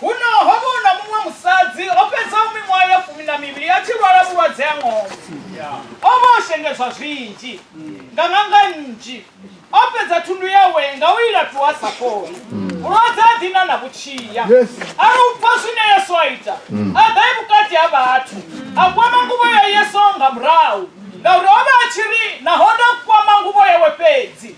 Huno ho vha hu na muṅwe musadzi o fhedzaho miṅwaha ya fumi na mivhili a tshi lwala vhulwadze ha ṅombe. O vha o shengedzwa zwinzhi nga ṅanga nnzhi, o fhedza thundu yawe nga u i laṱuwa a sa fholi. Vhulwadze ha ḓina na vhutshiya. A ri u pfa zwine Yesu a ita, a ḓa e vhukati ha vhathu, a kwama nguvho ya Yesu nga murahu, ngauri o vha a tshi ri naho nda kwama nguvho yawe fhedzi,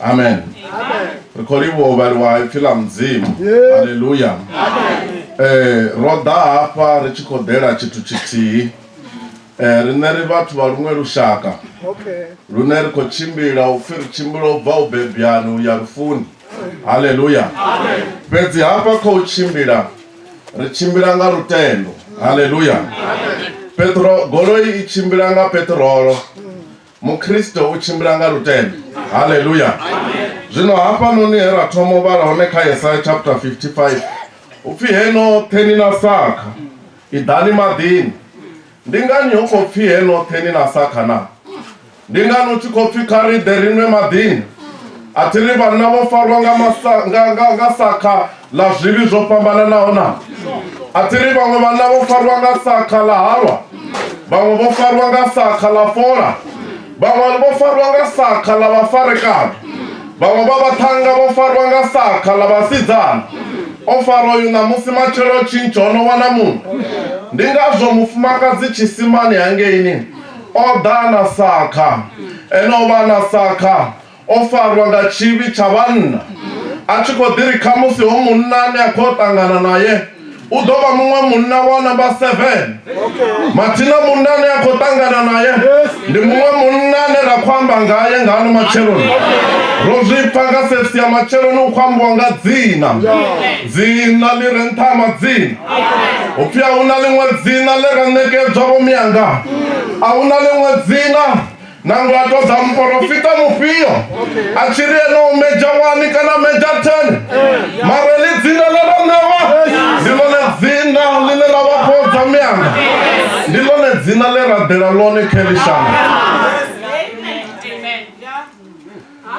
amen ri khou livhuwa u vhaliwa ipfi ḽa mudzimu halleluya eh ro ḓa hafha ri tshi khou ḓela tshithu tshithihi eh riṋe ri vhathu vha luṅwe lushaka lune ri khou tshimbila u pfhi ri tshimbila u bva u bebyani u ya lufuni halleluya fhedzi hafha kha u tshimbila ri tshimbila nga lutendo halleluya petro goloi i tshimbila nga petrolo Mukhristo u tshimbila nga lutendo. Haleluya! Zwino hafhanoni he ra thoma u vhala hone kha Yesaya chapter 55 u pfi he noṱhe ni na sakha i ḓani maḓini. Ndi ngani hu khou pfi he noṱhe ni na sakha na? Ndi ngani hu tshi khou pfi kha ri ḓe ri nwe maḓini? A thi ri vhanna vho farwa nga, masa, nga, nga, nga sakha ḽa zwivhi zwo fhambananaho na a thi ri vhaṅwe vhanna vho farwa nga sakha ḽa halwa vhaṅwe vho farwa nga sakha ḽa fola vhaṅwe vho farwa nga sakha ḽa vhafarekana vhaṅwe vha vhaṱhanga vho farwa nga sakha ḽa vhasidzana o fara uyu ṋamusi matshelo tshintsho o no wana muṅwe ndi ngazwo mufumakadzi tshisimani hangeini o ḓa na sakha ene o vha na sakha o farwa nga tshivhi tsha vhanna a tshi khou ḓi ri khamusi ho munna ane a khou ṱangana naye u ḓo vha muṅwe munna wa namba 7 mathina munna ane a khou ṱangana naye ndi muṅwe munna ane ra khou amba ngaye nga ano matsheloni ro zwi pfa nga sefsi ya matsheloni u khou ambiwa nga dzina dzina ḽi re nṱha ha madzina u pfi a hu na ḽiṅwe dzina ḽe ra ṋekedzwa vho mianga a hu na ḽiṅwe dzina nangwe a ṱoḓa muporofita mufhio a tshi ri ene u medzha wani kana medzha ten mara ḽi dzina ḽe ro ṋewa ndi ḽone dzina ḽine ḽa vha khou dza mianga ndi ḽone dzina ḽe ra ḓela ḽone kha ḽi shango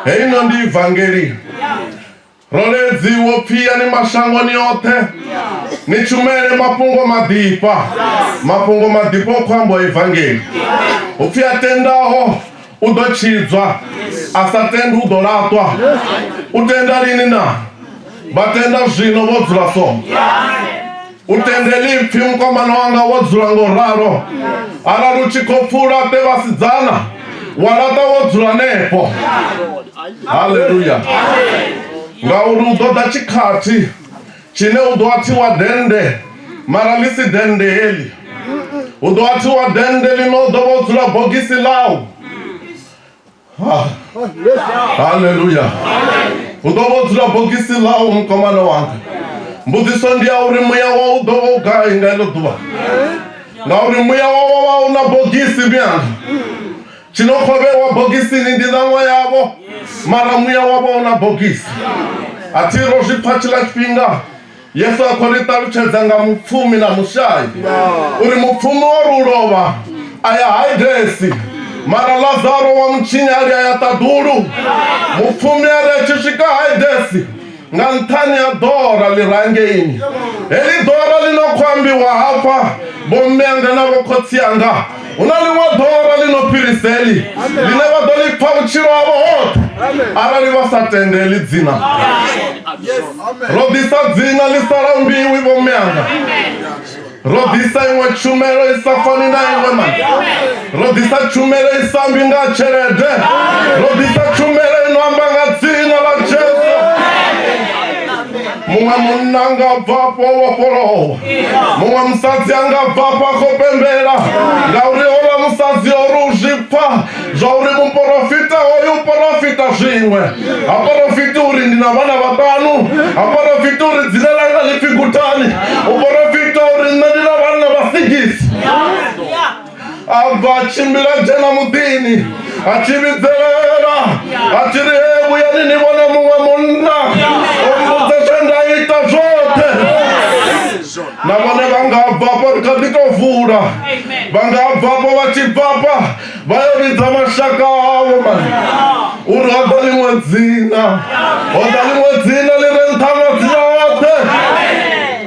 heino ndi ivangeli Roledzi wo pfi ya ni mashangoni oṱhe ni tshumele mafhungo maḓifha mafhungo maḓifha o khou ambiwa evangeli upfi a tendaho u ḓo tshidzwa a sa tendi u ḓo laṱwa u tenda lini na vha tenda zwino vho dzula so u tendeli mpfi mukomana wanga wo dzula ngo ralo arali u tshi khou pfula te vhasidzana wa laṱa wo dzula nepo haleluya ngauri u ḓoḓa tshikhathi tshine u ḓo athiwa dende mara ḽi si dende heli u ḓo athiwa dende ḽino u ḓo vha u dzula bogisi ḽau haleluya u ḓo vho dzula bogisi ḽau mukomana wanga mbudziso ndi ya uri muya wa u ḓo vho gai nga iḽo ḓuvha ngauri muya wa wa wa u na bogisi mianga tshino khovhewa bogisini ndi ṋaṅwa yavho mara muya wa vha u na bogisi a thi ro zwi pfa tshiḽa tshifhinga Yesu a khou ri ṱalutshedza nga mupfumi na mushai uri mupfumi o ri u lovha a ya haidesi mara lazaro wa mutshinyali a ya ṱaḓulu mupfumi a ri a tshi swika haidesi nga nṱhani ha ḓora ḽi rangeini heḽi ḓora ḽi no khou ambiwa hafha vhomme anga na vhokhotsi anga Hu na ḽiṅwe ḓora ḽi no fhirisa heḽi ḽine vha ḓo ḽi pfa vhutshilo havho hoṱhe arali vha sa tende heḽi dzina ro ḓisa dzina ḽi sa lambiwi vho meanga ro ḓisa iṅwe tshumelo i sa fani na iṅwe mani ro ḓisa tshumelo i sa ambi nga tshelede ro ḓisa tshumelo i no amba nga dzina ḽa jesu muṅwe munna anga bvafho vhofholowa muṅwe musadzi anga bvafho a khou pembela ngauri hola musadzi o ri u zwi pfa zwa uri muporofita hoyu u porofita zwiṅwe ha porofiti uri ndi na vhana vhaṱanu ha porofiti uri dzina langa ḽi pfi gutani u porofita uri nṋe ndi na vhanna vha sigisi a bva a tshimbila dzhena muḓini a tshi vhidzelela a tshi ri he vhuyani ni vhone muṅwe munna o mbudza zwe nda ita zwoṱhe na vhone vha nga bvafha ri kha ḓi tou vula vha nga bvafha vha tshi bvafha vha yo vhidza mashaka avho mani uri ho ḓa ḽiṅwe dzina ho ḓa ḽiṅwe dzina ḽi re nṱha madzina oṱhe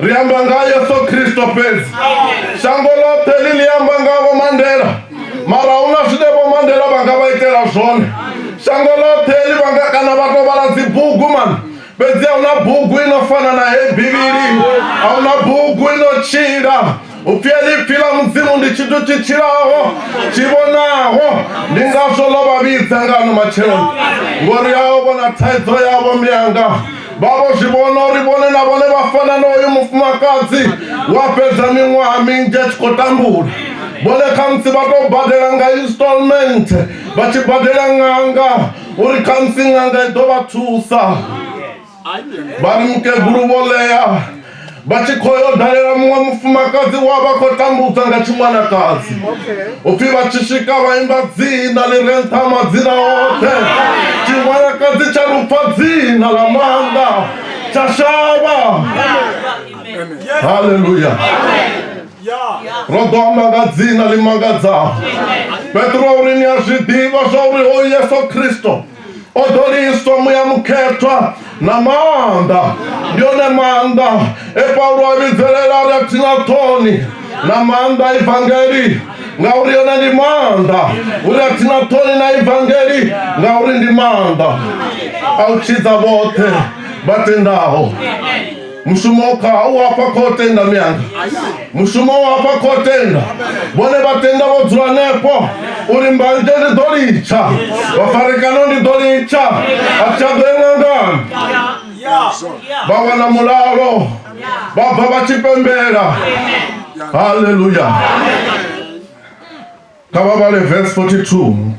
ri amba nga yesu khristo fhedzi shango ḽoṱhe ḽi ḽi amba nga vho mandela mara hu na zwine vho mandela vha nga vha itela zwone shango ḽoṱhe ḽi vhanga kana vha to vhala dzibugu mani fhedzi a huna bugu ino fana na heyi bivhili a huna bugu ino tshila upfi ḽipfi ḽa mudzimu ndi tshithu tshi tshilaho tshi vhonaho ndi ngazwo ḽo vha vhidza nga ano matsheloni ngori ao vhona thaidzo yavho miyanga vha vho zwi vhona uri vhone na vhone vha fana na uyu mufumakadzi wa fhedza miṅwaha minzhi a tshi khou tambula vhone khamusi vha tou badela nga installment vha tshi badela ṅanga uri khamusi ṅanga i ḓo vha thusa vha mukegulu vho ḽea vha tshi khou yo dalela muṅwe mufumakadzi wa vha khou tambudza nga tshiwanakadzi upfhi vha tshi swika vha imba dzina ḽi re nṱha madzina oṱhe tshiwanakadzi tsha lupfa dzina ḽa maanḓa tsha shavha haleluya ro ḓo amba nga dzina ḽi mangadzaho petro uri ni a zwi ḓivha zwa uri hoyu yesu khristo o ḓo liswa muya mukhethwa na maanḓa ndi one maanḓa e paulo a vhidzelela ri a thina ṱhoni na maanḓa evangeli ngauri yone ndi maanḓa uri a thina ṱhoni na evangeli ngauri ndi maanḓa a u tshidza vhoṱhe vha tendaho mushumo wo khaha u afha kho tenda mianga mushumo wo afha kho tenda vhone vha tenda vho dzula hanefho uri mbanzhe ndi ḓo litsha vhafarekano ndi ḓo litsha a tsha ḓo engangana vha wana mulalo vha bva vha tshi pembela haleluya kha vha vhale verse 42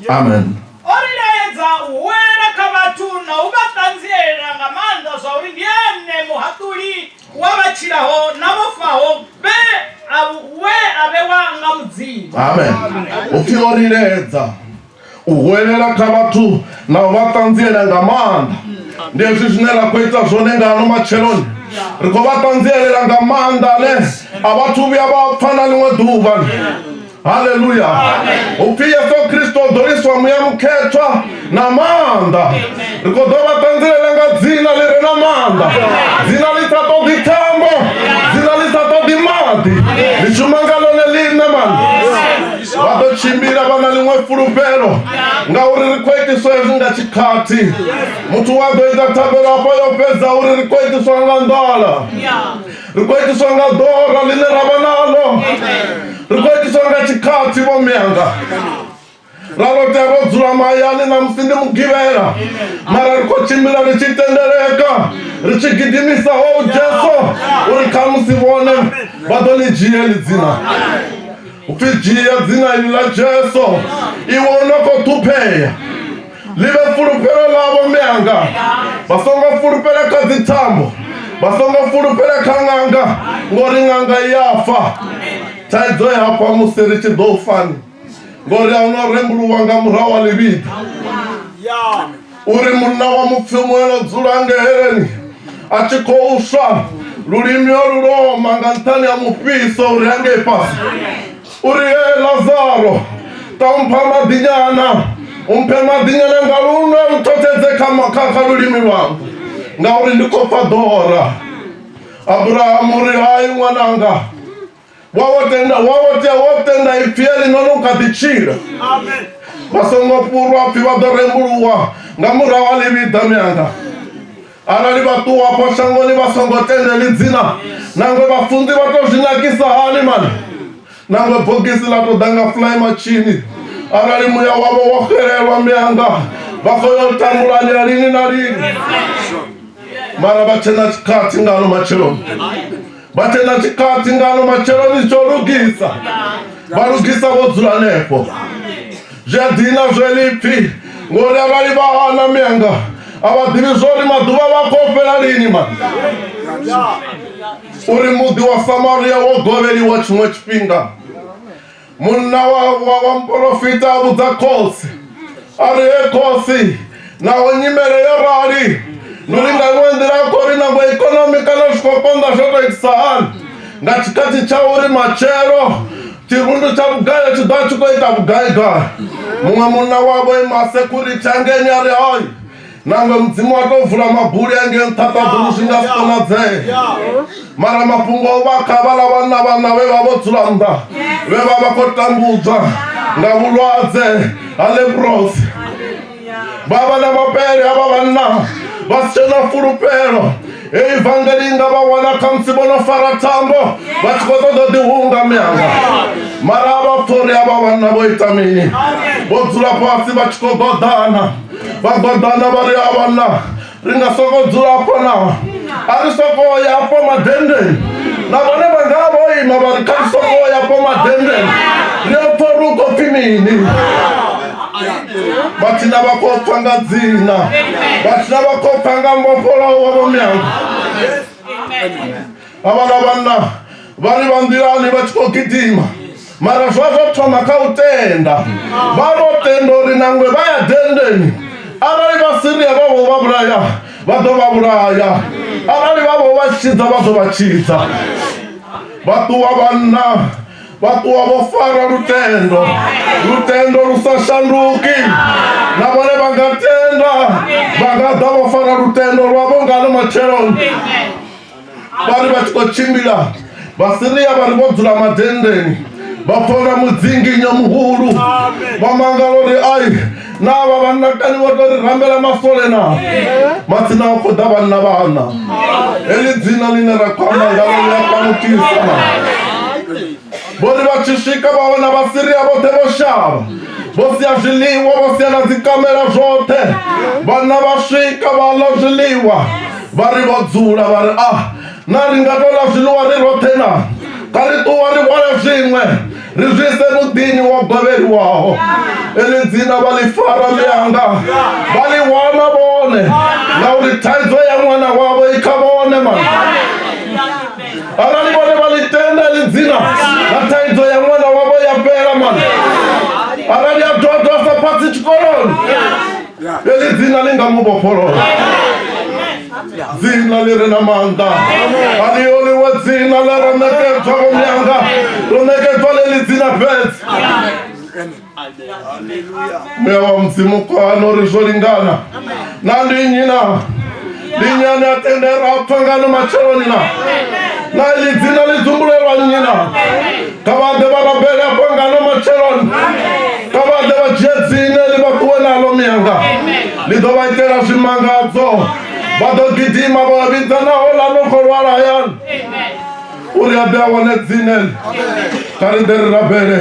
amen o ri laedza u huwelela kha vhathu na u vha ṱanzielela nga maanḓa zwa uri ndi ene muhaṱuli wa vha tshilaho na vho faho vhe a we a vhewa nga mudzimu amen upfi o ri laedza u huwelela kha vhathu na u vha ṱanziela nga maanḓa ndi hezwi zwine ra khou ita zwone nga ano matsheloni ri khou vha ṱanzielela nga maanḓa ane a vhathu vhuya vha pfa na ḽiṅwe ḓuvha haleluya upfi yesu kristo o ḓoliswa muya mukhethwa na maanḓa ri khou ḓo vha ṱanzilela nga dzina ḽi re na maanḓa dzina ḽi sa ṱoḓi thambo dzina ḽi sa ṱoḓi maḓi ḽi shuma nga ḽone ḽiṋe mani vha ḓo tshimbila vha na ḽiṅwe fulufhelo ngauri ri khou itiswa hezwi nga tshikhathi muthu wa ḓo ita thabelo afho yo fhedza uri ri khou itiswa nga nḓala ri khou itiswa nga ḓora ḽine ra vha nalo ri khou itiswa nga tshikhathi vho mianga ra ro tea ro dzula mahayani na musi ndi mugivhela mara ri khou tshimbila ri tshi tendeleka ri tshi gidimisa ho oh, jesu uri kha musi vhone vha ḓo ḽi dzhia ḽi dzina upfi dzhia dzina iḽi ḽa jesu iwe u no khou ṱhuphea ḽi vhe fulufhelo ḽavho mianga vha songo fulufhela kha dzithambo vha songo fulufhela kha ṅanga ngori ṅanga i ya fa thaidzo ya fa musi ri tshi ḓo fani ngori a huna rembuluwa nga murahu wa ḽivhiḓa uri munna wa mupfi muelo dzula ngeheleni a tshi khou swa lulimi o luloma nga nṱhani ha mufhiso uri a ngei fhasi uri e lazaro ṱaumpha maḓinyana umphe maḓinyana nga lunwe u thotshedze kha lulimi lwanga ngauri ndi khou pfa ḓora abrahamu uri hai ṅwananga wawotenda wawotya wotenda ipyeli nono ukadicila vasongo purwa pfi vha ḓo rembuluwa nga murahu a ḽivhiḓa mianga arali vhaṱuwa afho shangoni vha songo tendeli dzina nangwe vhafunzi vha tou zwi nakisa hani mani nangwe bogisi ḽa tou ḓa nga fly matshini arali muya wavho wo xelelwa mianga vha khou yo tambulanya lini na lini mara vha tshena tshikhathi ngalo matsheloni vha tshena tshikati ngalo matsheloni tsho lugisa vha lugisa vho dzula hanefho zwi a dina zwe lipfi ngori arali vha hana mianga a vha ḓivhi zwo uri maḓuvha vha khou fhela lini ma uri muḓi wa samaria wo govheliwa tshiṅwe tshifhinga munna wa wa muporofita a vhudza khotsi a ri he khotsi naho nyimele yo rali ndi ri nga iṅwe nḓila a khou ri nango ikonomi kana zwi khou konḓa zwo tou itisa hani nga tshikhathi tsha uri matshelo tshirundu tsha vhugai tshi ḓo tshi khou ita vhugaigai muṅwe munna wavho ima sekhurithi angeni a ri hai Nangwe mudzimu wa tou vula mabuli a ngei nṱha ṱaḓulu zwi nga si konadzee mara mafhungo o vha kha vhala vhanna vhanna vhe vha vho dzula nnḓa vhe vha vha khou tambudzwa nga vhulwadze ha leprosi vha vha na mapele a vha vhanna vha si tshe na fulufhelo Hei vangeli nga vha wana khamusi vho no fara thambo vha tshi khou ṱoḓa ḓi hunga mianga mara a vha pfori a vha vhanna vho ita mini vho dzula fhasi vha tshi khou ḓoḓana vha ḓoḓana vha ri a vhanna ri nga soko dzula afho na a ri soko ya afho madendeni na vhone vha nga vho ima vha ri kha ri soko ya afho madendeni ri a pfori u khou pfi mini vhatshi na vha khou pfa nga dzina vhatshi na vha khou pfa nga mbofholaho wa vhomeanga havhala vhanna vha ri vha nḓilani vha tshi khou gidima mara zwa zwo thoma kha u tenda vha vho tenda uri nangwe vha ya dendeni arali vha siria vha vho vha vhulaya vha ḓo vha vhulaya arali vha vho vha tshidza vha ḓo vha tshidza vha ṱuwa vhanna vha ṱuwa vho fara lutendo lutendo lu sa shanduki na vhone vha nga tenda vha nga ḓa vho fara lutendo lwa vho ngano matsheloni vha ri vha tshi khou tshimbila vhasiria vha ri vho dzula madendeni vha pfona mudzinginyo muhulu vha mangala uri ai na vha vhanna kani vho tori rambela mafole na matsina o khoḓa vhanna vhana heḽi dzina ḽine ra khou amba ngalo ḽi a panukisa na vho ri vha tshi swika vha wana vhasiria vhoṱhe vho shavha vho sia zwiḽiwa vho sia na dzikamela zwoṱhe vhanna vha swika vha ḽa zwiḽiwa vha ri vho dzula vha ri a na ri nga tou ḽa zwiḽiwa ri roṱhe na kha ri ṱuwa ri hwale zwiṅwe ri zwise muḓini wa gwevheliwaho eḽi dzina vha ḽi fara ḽianga vha ḽi wana vhone ngauri thaidzo ya ṅwana wavho i kha vhone ma arali vhone vha ḽi tenda ḽi dzina na thaidzo ya ṅwana wavho ya fhela mani arali a dodwa sa phatsi tshikoloni Ḽeḽi dzina ḽi nga mu vhofholola dzina ḽi re na maanḓa a ḽi oliwe dzina ḽe ro ṋekedzwa vho mianga ro ṋekedzwa ḽeḽi dzina fhedzi muya wa mudzimu kwano ri zwo lingana na ndi nnyi na linyani a tendera a pfa ngano matsheloni na na ḽi dzina ḽi dzumbulelwa nnyi na kha vha ḓe vha rabele afho ngano matsheloni kha vha ḓe vha dzhie dzine ḽi vha ṱuwe naḽo miyanga ḽi ḓo vha itela zwimangadzo vha ḓo gidima vha vha vhidza naho ḽa no khou lwala hayani uri a ḓe a wane dzine kha ri ḓe ri rabele